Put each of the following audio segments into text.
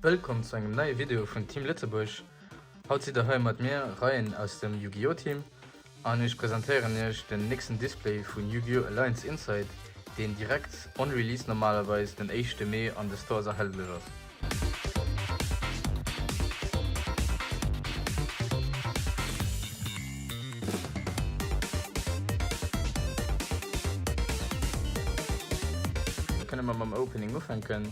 Wëllkomm zu engem neie Video vun Team Lëtzebuerg. Haut sidd der hei mat mir Reien aus dem Yu-Gi-Oh! Team an ech presentéieren iech den nächsten Display vun Yu-Gi-Oh! Alliance Inside, deen direkt on release normalerweis den éischte Mee an de Stores erhältlech ass. Kënne mer mam Opening ufänken?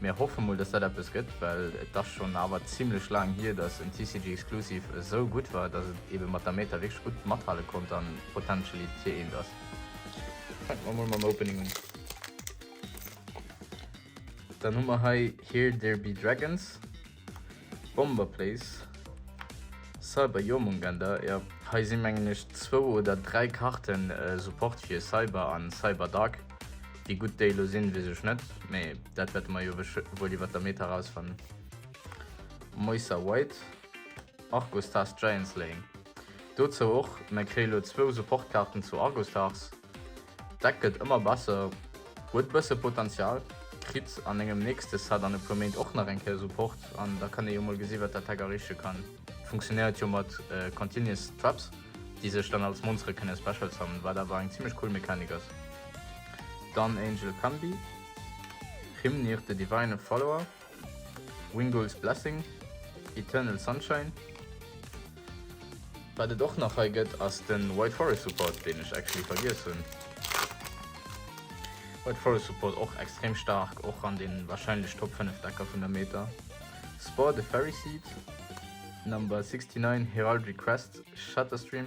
Mir hoffe mol dass dat eppes gëtt, well et ass schonn awer zimlech laang hier, dass en TCG Exclusive esou gutt war, dass et eben mat der Meta wierklech gutt mathale konnt an potentially Tier 1 ass. Fänken mer mol mam Opening un. Dann hu mer hei Here There Be Dragons, Bomber Place, Cyber Jormungender, jo hei si mengen ech zwou oder dräi Karten Support fir Cyber an Cyber Dark. Wéi gutt déi elo sinn weess ech net, mee dat wäerte mer jo wuel iwwert der Meta rausfannen. Moissa White, Argostars Giant Slaying, dozou och, mer kréie lo zwou Support Karten zu Argostars. D'Deck gëtt ëmmer besser, huet bësse Potential, kritt an engem nächste Set an e puer Méint och nach eng Kéier Support an da kann ee jo mol gesi wat dat Deck erreeche kann. Funktionéiert jo mat Continuous Traps, déi sech dann als Monstere kënne Special summon, wat awer eng zimmlech cool Mechanik ass. Dann Angel Pambi, Hrimnir the Divine Follower. Wingull's Blessing, Eternal Sunshine. Wat et och nach hei gëtt ass de White Forest Support, deen ech actually vergiess hunn. White Forest Support och extrem staark, och an den wahrscheinlech Top 5 Decker vun der Meta. Spore the Fairy Seed, Number 69, Heraldry Crest, Shatterstream.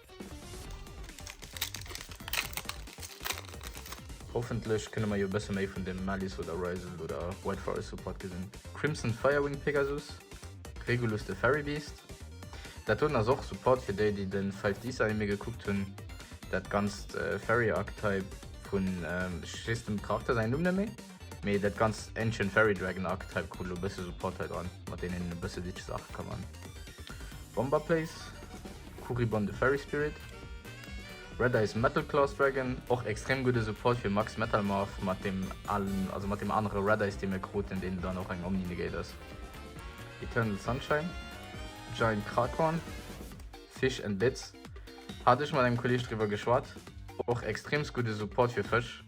Hoffentlech kënne mer jo e bësse méi vun dem Malice oder Ryzel oder White Forest Support gesinn. Crimson Firewing Pegasus, Regulus de Fairy Beast, dat doten ass och Support fir déi déi de Five Ds Anime gekuckt hunn, dat ganzt Fairy Archetype vun, ech weess dem Charakter säin Numm net méi. Mee dat ganz Ancient Fairy Dragon Akt hei krut lo bësse Support hei dran, mat deenen een e bësse Ditch Saache ka man. Bomber Place, Kuribon the Fairy Spirit, Red Eyes Metal Claws Dragon, och extrem gudde Support fir Max Metal Morph mat dem allen, also mat dem anere Red Eyes dee mir kruten, deen dann och eng Omni Negate ass. Eternal Sunshine, Giant Kraghorn, Fish and Bits, hat ech mat engem Kolleg driwwer geschwat, och extremst gudde Support fir Fësch.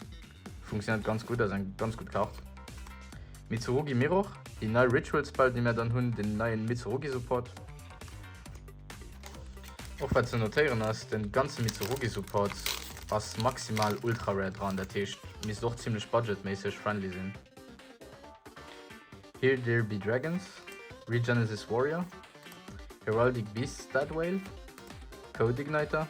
Funktionéiert ganz gudd, ass eng ganz gudd Kart. Mitsurugi Mirror, déi nei Ritual Spell déi mär dann hunn, den neien Mitsurugi Support. Och wat ze notéieren ass, den ganzen Mitsurugi Support ass maximal ultra rare dran, dat heescht misst och zimlech budget méisseg friendly sinn. Here There Be Dragons, Regenesis Warrior, Heraldic Beasts Dead Whale, Code Igniter.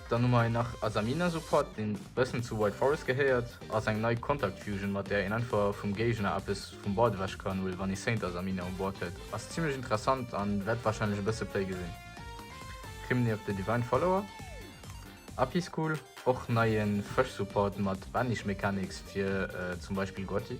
Dann hu mer hei nach Asamina Support, deen e bëssen zu White Forest gehéiert, ass eng nei Contact Fusion, mat där een einfach vum Géigner eppes vum Board ewech kann huelen, wann ee Saint Asamina um Board huet. Ass zimmlech interessant a wäert warscheinlech e bësse Play gesinn. Criminy of the Divine Follower, Api School, och neie Fësch Support mat Banish Mechanics fir zum Beispill Gotti.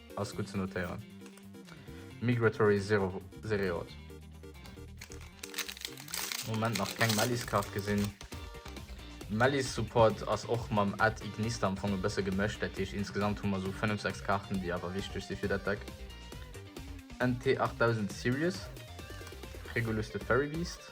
ass gutt ze notéieren. Migratory Zero Zereot. Moment nach keng Melliskaart gesinn. Mellis Support ass och mam Ad Ignista am Fong e bësse gemëscht, dat heescht insgesamt hu mer sou 5, 6 Kaarten, déi awer wichteg si fir dat Deck. NT 8000 Sirius, Regulus de Fairy Beast.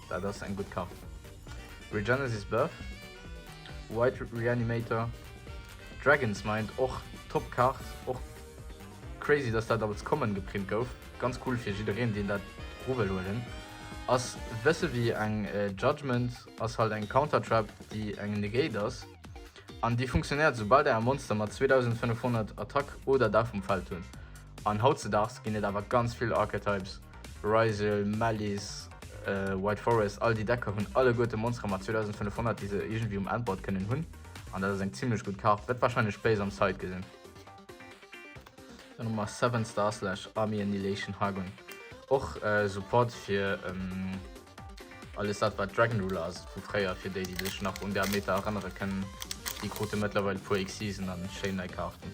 Daat ass eng gudd Kart. Regenesis Buff, White Reanimator, Dragon's Mind och top Kart. Och crazy dass daat als Common geprint gouf. Ganz cool fir jiddereen deen daat ru wëll huelen. Ass bësse wéi eng Judgement, ass halt eng Counter Trap déi eng Negate ass an déi funktionéiert soubal der e Monster mat 2500 Attack oder Dach vum Feld hunn. An hautzedaags ginn et awer ganz vill Archetypes, Ryzeal, Malice, White Forest, all déi Decker hunn alleguerte Monstere mat 2500 déi se iergendwéi um Endboard kënnen hunn an dat ass eng zimlech gutt Kaart, wäert warscheinlech Base am Side gesinn. Dann hu mer Seven Star Slash Army Annihilation Hargon, och Support fir alles dat wat Dragon Ruler ass vu fréier, fir déi déi sech nach un där Meta erënnere kënnen, déi krute mëttlerweil e puer Xyzen a schéin nei Kaarten.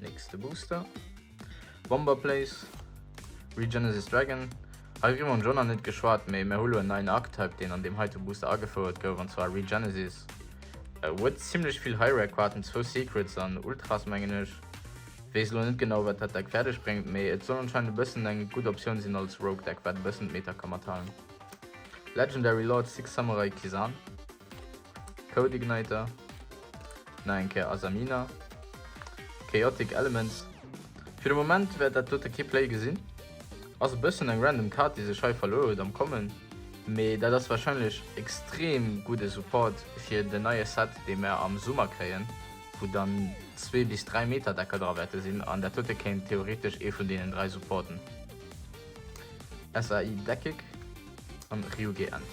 Nächste Booster. Bomber Place. Regenesis Dragon. Hei hu mer schon an net geschwaart, méi mer hulo en neien Archetype, deen an dem heite Booster agefouert gouf, an zwar Regenesis. Äh, huet zimlech vill High-Rare-Kaarten, zwou Secrets an Ultras mengen ech. Weess lo net genau, wat dat Deck fäerdeg bréngt, mee et soll anscheinend e bëssen eng gutt Optioun sinn als Rogue-Deck, wat e bëssen d'Meta ka mathalen. Legendary Lord Six Samurai Kisan. Codeigniter, nach eng Kéier Asamina, Chaotic Elements. Fir de Moment wäert dat dote kee Play gesinn. Ass e bëssen eng random Kaart déi sech hei verluer huet am Kommen, mee dat ass wahrscheinlech extrem gudde Support fir den neie Set dee mer am Summer kréien, wou dann zwee bis dräi Meta-Decker dra wäerte sinn, an dat dote kéint theoretesch ee vun deenen dräi supporten, SAI Deckig an Ryuge Ent.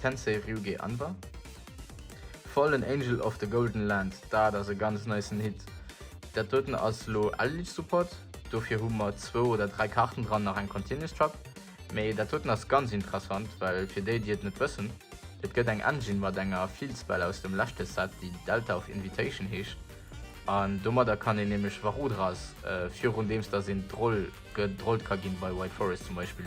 Tensei Ryuge Anwa, Fallen Angel of the Golden Land, dat ass e ganz nicen Hit. Dat doten ass lo Eldritch Support, dofir hu mer zwou oder dräi Karten dran, nach eng Continuous Trap. Mee dat doten ass ganz interessant, well fir déi, déi et net wëssen, et gëtt eng Engine mat enger Field-Spell aus dem leschte Set, déi Delta of Invitation heescht, an domadder kann een nämlech Varudras, virun deems dass een drol gedrollt ka ginn, bei White Forest zum Beispill,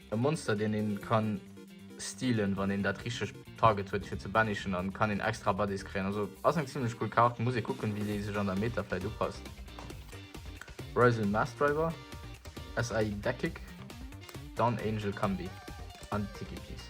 E Monster deen een kann stealen wann een dat richteg Target huet fir ze banishen an kann een extra Buddies kréien. Also ass eng zimlech cool Kaart, muss ee kucken wéi déi sech an der Meta vläit upasst. Ryzel Massdriver, SAI Deckig, Dawn Angel Combi an Tiki Piece.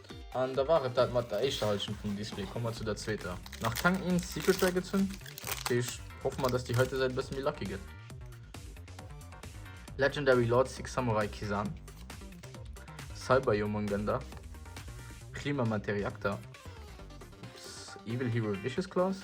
An da war et dat mat der éischter Halschent vum Display. Komme mer zu der zweeter. Nach keng eenz Secret Dragons hunn, deesch hoffe mer dass déi heite Säit e bësse méi lucky gëtt. Legendary Lord Six Samurai Kisan, Cyber Jormungandr, Klima Materiakter, Evil Hero Vicious Claws,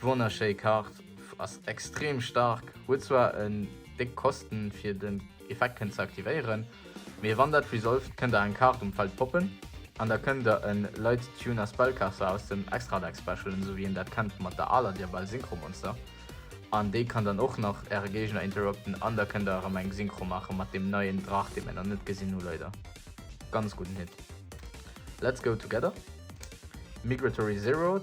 Wonnerschéi Kart, ass extrem stark, huet zwar en déck Kosten fir den Effekt kënnt ze aktivéieren, mee wann dat resolved kënnt der eng Kart um Feld poppen an da kënnt der en Light Tuner Spellcaster aus dem Extra Deck specialen, sou wéi een dat kennt mat der aler Diabell Synchro Monster an déi kann dann och nach äre Géigner interrupten an da kënnt der erëm eng Synchro maachen mat deem neien Drach dee mir nach net gesinn hu leider. Ganz gudden Hit. Let's go together, Migratory Zeroed.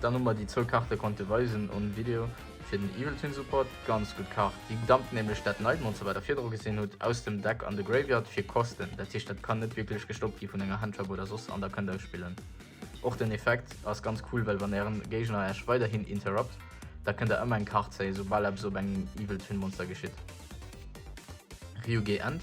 Dann hu mer déi zwou Kaarte konnte weisen um Video fir den Evil Twin Support. Ganz gutt Kaart, déi dampt nämlech dat Nightmonster wat der virdru gesinn hutt aus dem Deck an de Graveyard fir Kosten. Dat heescht dat kann net wierklech gestoppt gi vun enger Handtrap oder soss an der kënnt ausspillen. Och den Effekt ass ganz cool, well wann ären Géigner äech weiderhin interrupt, da kënnt der ëmmer eng Kaart zéien soubal eppes op engem Evil Twin Monster geschitt. Ryuge End.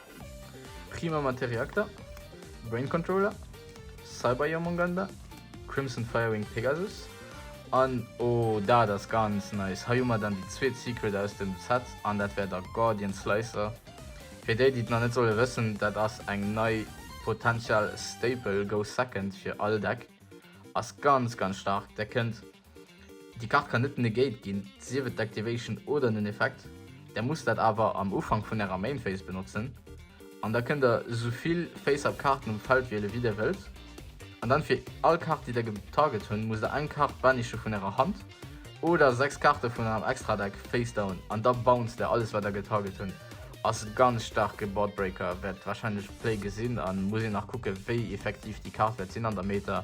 Prima Maté Reakter, Brain Controller, Cyber Jormunganda, Crimson Firewing Pegasus an oh dat ass ganz nice, hei hu mer dann déi zweet Secret aus dem Set an dat wär der Gordian Slicer. Fir déi déi et nach net solle wëssen, dat ass eng nei potential Staple, go second fir all Deck, ass ganz ganz staark, där kënnt Déi Kart kann net negate ginn, sief et Activation oder en Effekt. Der musst dat awer am Ufank vun ärer Main Phase benotzen. An da kënnt der souvill Face-Up Karten um Feld wiele wéi der wëllt. An dann fir all Kart déi der getarget hunn, musst der eng Kart banishe vun ärer Hand oder 6 Karte vun ärem Extradeck Face Down an da bounced der alles wat der getarget hunn. Ass ganz staarke Board Breaker, wäert wahrscheinlech Play gesinn an muss een nach kucke wéi effektiv déi Kart wäert sinn an der Meta.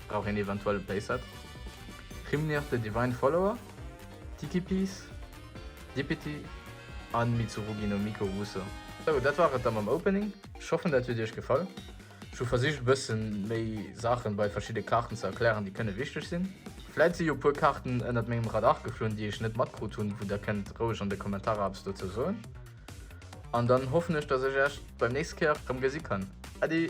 Brauch een eventuell e Playset? Hrimnir the Divine Follower, Tiki Piece, Dippity an Mitsurugi no Miko Wuso. Sou, dat war et da mam Opening. Ech hoffen dat huet iech gefall. Ech hu versicht e bëssen méi Saachen bei verschidde Kaarten ze erklären déi kënne wichteg sinn. Vläit si jo e puer Kaarten ënnert mengem Radar geflunn déi ech net matkrut hunn, wou der kënnt roueg an de Kommentarer eppes dozou soen. An dann hoffen ech dat ech iech beim nächste Kéier rëm gesi kann. Äddi!